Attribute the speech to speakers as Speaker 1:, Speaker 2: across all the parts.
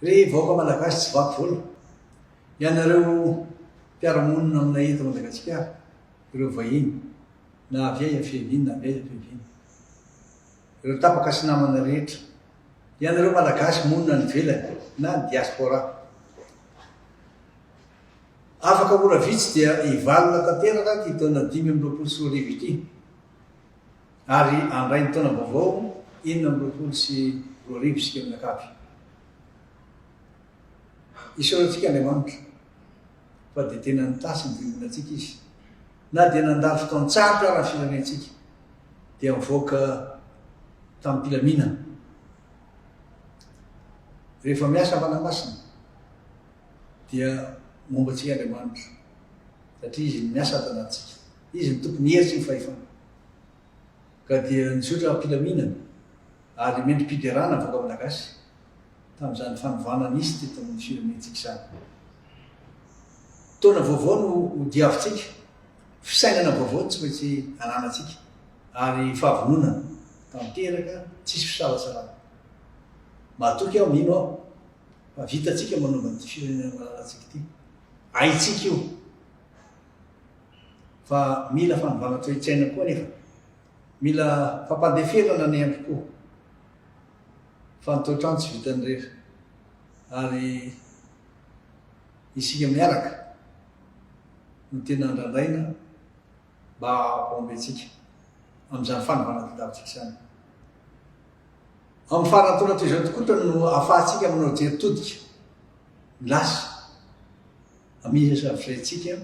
Speaker 1: Ry vahoaka malagasy tsy vaky volo, ianareo mpiara-monina aminay eto Madagasikara, ireo vahiny, na avy aiza fiaviany na avy aiza fiaviany, ireo tapaka sy namana rehetra, ianareo malagasy monina any ivelany na diaspora, afaka ora vitsy dia hivalona tanteraka ity taona dimy amby roapolo sy roa arivo ity. Ary handray ny taona vaovao enina amby roapolo sy roa arivo isika mianakavy. Hiseho amintsika Andriamanitra fa dia tena nitasy ny fiombonantsika Izy. Na dia nandalo fotoan-tsarotra ara ny firenentsika, dia nivoaka tamim-pilaminana. Rehefa miasa ny Fanahy Masina, dia momba antsika Andriamanitra, satria Izy no miasa ato anatintsika. Izy no Tompon'ny hery sy ny fahefana. ka dia nizotra am-pilaminana ary mendri-piderana vahoaka Malagasy tamin'izany fanovana nisy teto amin'ny firenentsika izany. Taona vaovao no hodiavintsika, fisainana vaovao no tsy maintsy ananantsika ary fahavononana tanteraka tsisy fisalasalana. Matoky aho, mino aho fa vitantsika manova an'ity firenena malalantsika ity. Haintsika io. Fa mila fanovana toe-tsaina koa anefa. Mila fampandeferana ny andro koa. Fa ny toetr'andro tsy vitan'ny rery. Ary isika miaraka no tena andrandraina mba hampahomby antsika amin'izany fanovana tadiavintsika izany. Amin'ny farantaona toy izao tokoa no ahafahantsika manao jery todika ny lasa. Hamihisa ny firentsika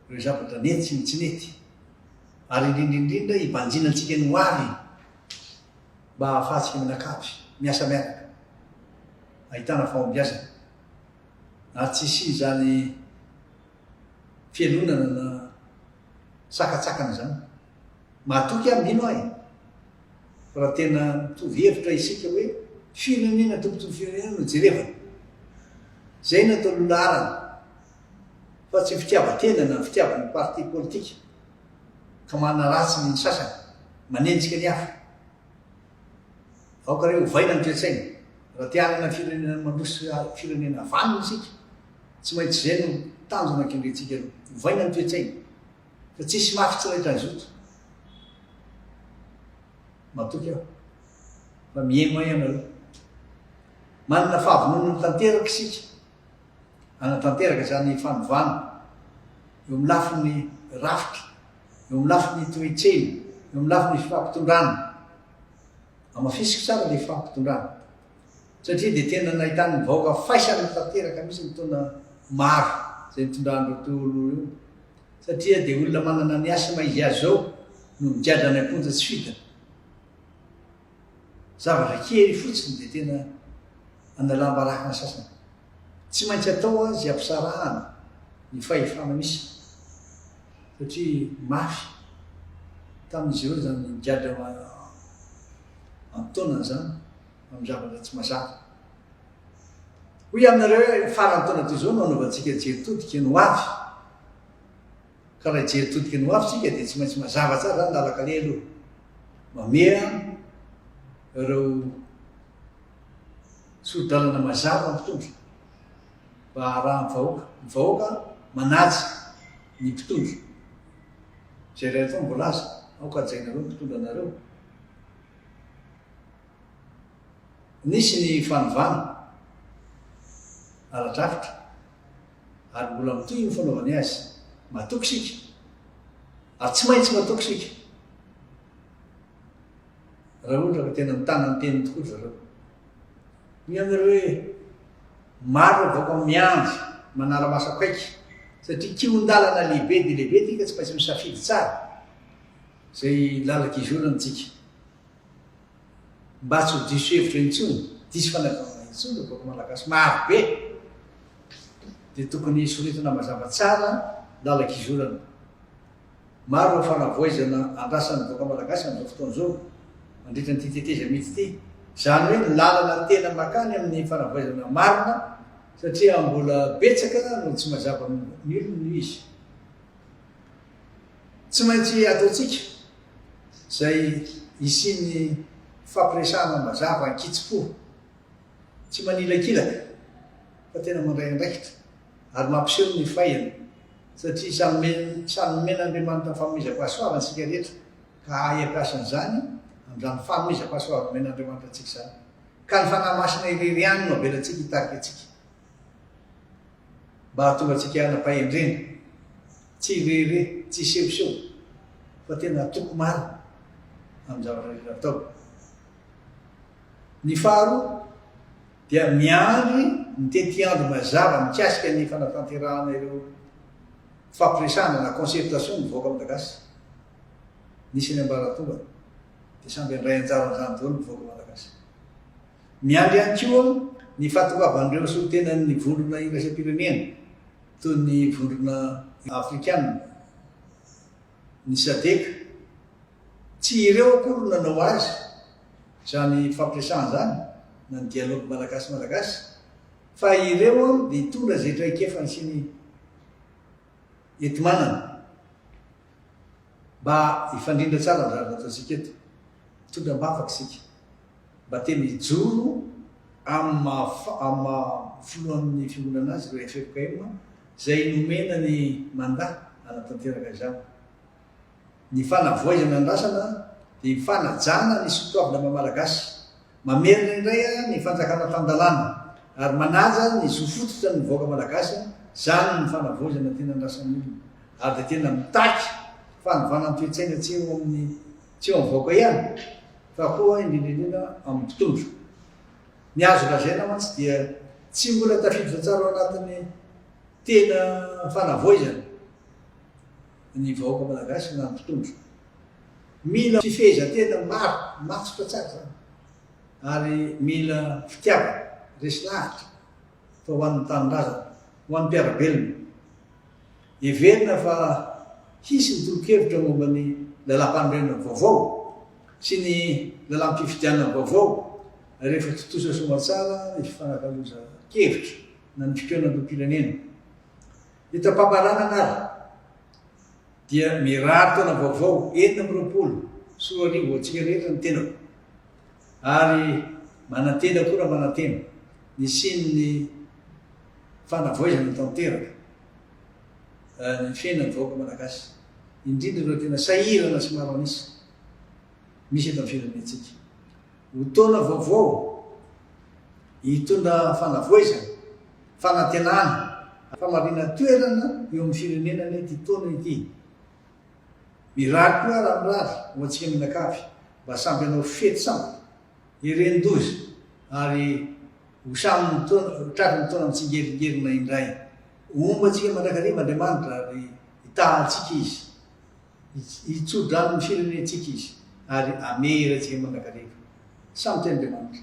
Speaker 1: ireo zavatra nety sy ny tsy nety, ary indrindra indrindra hibanjina antsika ny ho avy mba hahafahantsika mianakavy, miasa miaraka, ahitana fahombiazana, ary tsy hisian'izany fialonana na sakatsakana izany. Matoky aho mino aho e! Fa raha tena mitovy hevitra isika hoe firenena tompontsoan'ny firenena no jerevana, izay no atao lolaharana fa tsy fitiavan-tena na fitiavan'ny parti politika ka manaratsy ny sasany, manenjika ny hafa. Aoka re ovaina ny toe-tsaina, raha te hanana firenena mandroso sy firenena vanona isika, tsy maintsy izay no tanjona kendrentsika aloha. Ovaina ny toe-tsaina. Fa tsy hisy mafy tsy rehetra haizoto. Matoky aho. Fa mihaino ahy ianareo. Manana fahavononana mitanteraka isika. Hanatanteraka izany fanovana eo amin'ny lafiny rafitra, eo amin'ny lafiny toe-tsena, eo amin'ny lafiny fifampitondrana. Amafisiko tsara ilay fifampitondrana. satria dia tena nahitan'ny vahoaka faisana tanteraka mihitsy ny taona maro izay nitondran'ireo Tolo ireo satria dia olona manana ny asma izy azy izao no migadra any am-ponja tsy fita. Zavatra kely fotsiny dia tena analam-baraka ny sasany. Tsy maintsy atao azy hampisarahana ny fahefana misy satria mafy tamin'izy ireo izany migadra amin'nytaonany zany amin'ny zavatra tsy mazava. Hoy aminareo hoe faran'ny taona toy izao no hanaovantsika jery todika ny hoavy. Ka raha hijery todika ny hoavy tsika dia tsy maintsy mazava tsara zany lalakale aloha. Mameha ireo sori-dalana mazava mpitondra mba harahan'ny vahoaka. Ny vahoaka manaja ny mpitondra. Izay rehetra voalaza, aoka hajainareo ny mpitondra anareo. Nisy ny fanovana ara-drafitra ary mbola mitohy ny fanaovany azy. Matoky isika ary tsy maintsy matoky isika raha ohatra ka tena mitana ny teniny tokoa ry zareo. Ny aminareo hoe maro ny vahoaka miandry manara-maso akaiky satria kihon-dalana lehibe dia lehibe ity ka tsy maintsy misafidy tsara. Izay lalaka ivelany tsika. Mba tsy ho diso hevitra intsony, diso fanazavana intsony ny vahoaka malagasy maro be dia tokony soritana mazava tsara lalaka ivelany. Maro ireo fanavoizana andrasan'ny vahoaka malagasy amin'izao fotoana izao mandritra an'ity tetezamita ity. Izany hoe ny lalana tena makany amin'ny fanavoizana marina satria mbola betsaka no tsy mazava amin'ny olona izy. Tsy maintsy ataontsika izay hisian'ny fifampiresahana mazava an-kitsim-po, tsy manilakilaka fa tena mandray andraikitra ary mampiseho ny faiana, satria samy samy nomen'Andriamanitra ny fanomezam-pahasoavana isika rehetra ka hahay hampiasa an'izany amin'izany fanomezam-pahasoavana nomen'Andriamanitra antsika izany. Ka ny Fanahy Masina irery ihany no avelantsika hitarika antsika mba hahatonga antsika hanam-pahendrena. Tsy irery, tsy isehoseho fa tena atoko marina amin'ny zavatra rehetra atao. Ny faharoa dia miandry ny tetiandro mazava mikasika ny fanatanterahana ireo fifampiresahana na concertation ny vahoaka malagasy. Nisy any ambaratonga dia samy handray anjara amin'izany daholo ny vahoaka malagasy. Miandry ihany koa ny fahatongavan'ireo solontenan'ny vondrona iraisam-pirenena Toy ny vondrona afrikana, ny Sadc, tsy ireo akory no nanao azy izany fampiresahana izany na ny dialogue Malagasy-Malagasy fa ireo dia hitondra izay traikefany sy ny enti-manana. Mba hifandrindra tsara ny zava-niatantsika eto. Mitondra am-bavaka isika. Mba tena hijoro amin'ny maha amin'ny maha filohan'ny fiangonana azy ireo FFKM izay nomena ny mandat hanatanteraka izany. Ny fanavoaizana andrasana dia ny fanajana ny soatoavina maha-malagasy. Mamerina indray ny fanjakana tan-dalàna ary manaja ny zo fototra ny vahoaka malagasy, zany ny fanavaozana tena andrasan'ny olona ary dia tena mitaky fanovana ny toe-tsaina tsy eo amin'ny tsy eo amin'ny vahoaka ihany fa koa indrindra indrindra amin'ny mpitondra. Ny azo lazaina mantsy dia tsy mbola tafiditra tsara ao anatin'ny tena fanavaoizana ny vahoaka malagasy na ny mpitondra. Mila fifehezan-tena maro, matotra tsara izany, ary mila fitiavana, resy lahatra, fa ho an'ny tanindrazana, ho an'ny mpiara-belona. Heverina fa hisy ny tolo-kevitra momba ny lalàmpanorenana vaovao sy ny lalàm-pifidianana vaovao rehefa tontosa soamantsara ny fifanakalozan-kevitra na ny fikaonan'ireo mpirenena. Hitam-pamaranana ary. dia mirary taona vaovao enina amby roapolo sy roa arivo ho antsika rehetra ny tenako ary manantena koa raha manantena ny hisian'ny fanavoizana tanteraka eh, ny fiainan'ny vahoaka malagasy indrindra ireo tena sahirana sy maro an'isa. misy eto amin'ny firenentsika. Ho taona vaovao hitondra fanavoizana, fanantenana, famaliana toerana eo amin'ny firenena anie ity taona ity. Mirary koa raha mirary ho antsika mianakavy mba samby hanao fety sambo ery an-doza ary ho samy tratry ny taona mitsingeringerina indray. Homba antsika mandrakariva Andriamanitra ary hitaha antsika Izy. Hitso-drano ny firenentsika Izy, ary hamehy iray antsika mandrakariva. Samy tian'Andriamanitra.